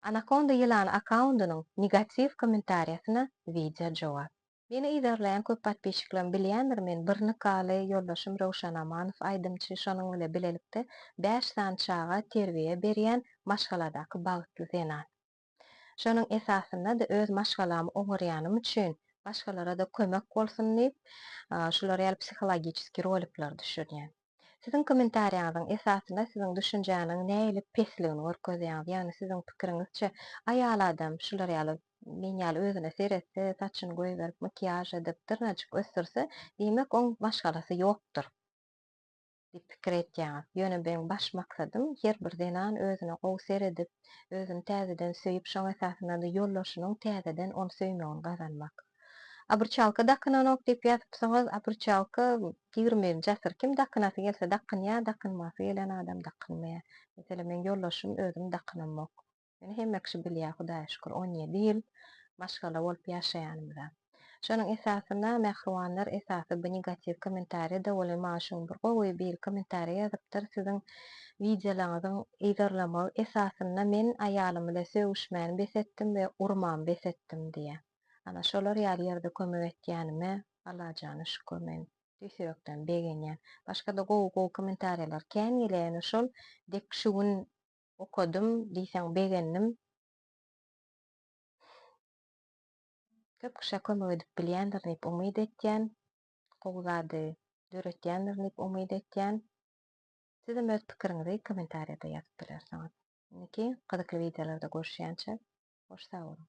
Anakonda ýylany akkaundynyň negatiw kommentariýasyna wideo jogap. Meni yzarlaýan köp patpisçiklem bilýändir men bir nikaly ýoldaşym Röwşan Amanow aýdymçy şonuň bile bilelikde bäş sany çaga terbiýe berýän maşgaladaky bagtly zenan. Şonuň esasyndada öz maşgalamy oňarýanym üçin başgalarada kömek bolsun diýip şular ýaly psihologiçeski rolikler düşürýän. Siziň kommentariýaňyzyň esasynda siziň düşünjäniň nähili pesligini görkezýäňiz. Ýagny siziň pikiriňizçe aýal adam şular ýaly men ýaly özüne seretse, saçyny goýberip, makiýaž edip, dyrnajyk ösdürse, diýmek oň maşgalasy ýokdur diýip pikir etýäňiz. Ýöne meň baş maksadym her bir zenan özüne gowy seredip, özüni täzeden söýüp, şoň esasynda-da ýoldaşynyň täzeden ony söýmegini gazanmak. Obruçalka dakynanok diýip ýazypsyňyz, obruçalka ýigrimi birinji asyr kim dakynasy gelse dakynýar, dakynmasy gelen adam dakynmaýar. Meselem meň ýoldaşym özüm dakynamok. Ýöne hemme kişi bilýär Hudaýa şükür on ýedi ýyl maşgala bolup ýaşaýanymyza. Şonuň esasyna mähribanlar esasy bu negatiw kommentariýada welin maňa şu gün bir gowy biri kommentariýa ýazypdyr siziň wideolaňyzyň yzarlamagy esasynda men aýalym bile sögüşmäni bes etdim we urmamy bes etdim diýýär. Ana, şolar ýaly ýerde kömek etýänime Allajana şükür men tüýs ýürekden begenýän. Başga-da gowy-gowy kommentariýalar kän gelýäýeni şol dek şu gün okadym diýseň begendim. Köp kişä kömek edip bilýändirin diýip umyt etýän. Gowy zady döretýändirin diýip umyt etýän. Sizem öz pikiriňizi kommentariýada ýazyp bilersiňiz. Indiki gyzykly wideolarda görüşýänçä hoş sag boluň.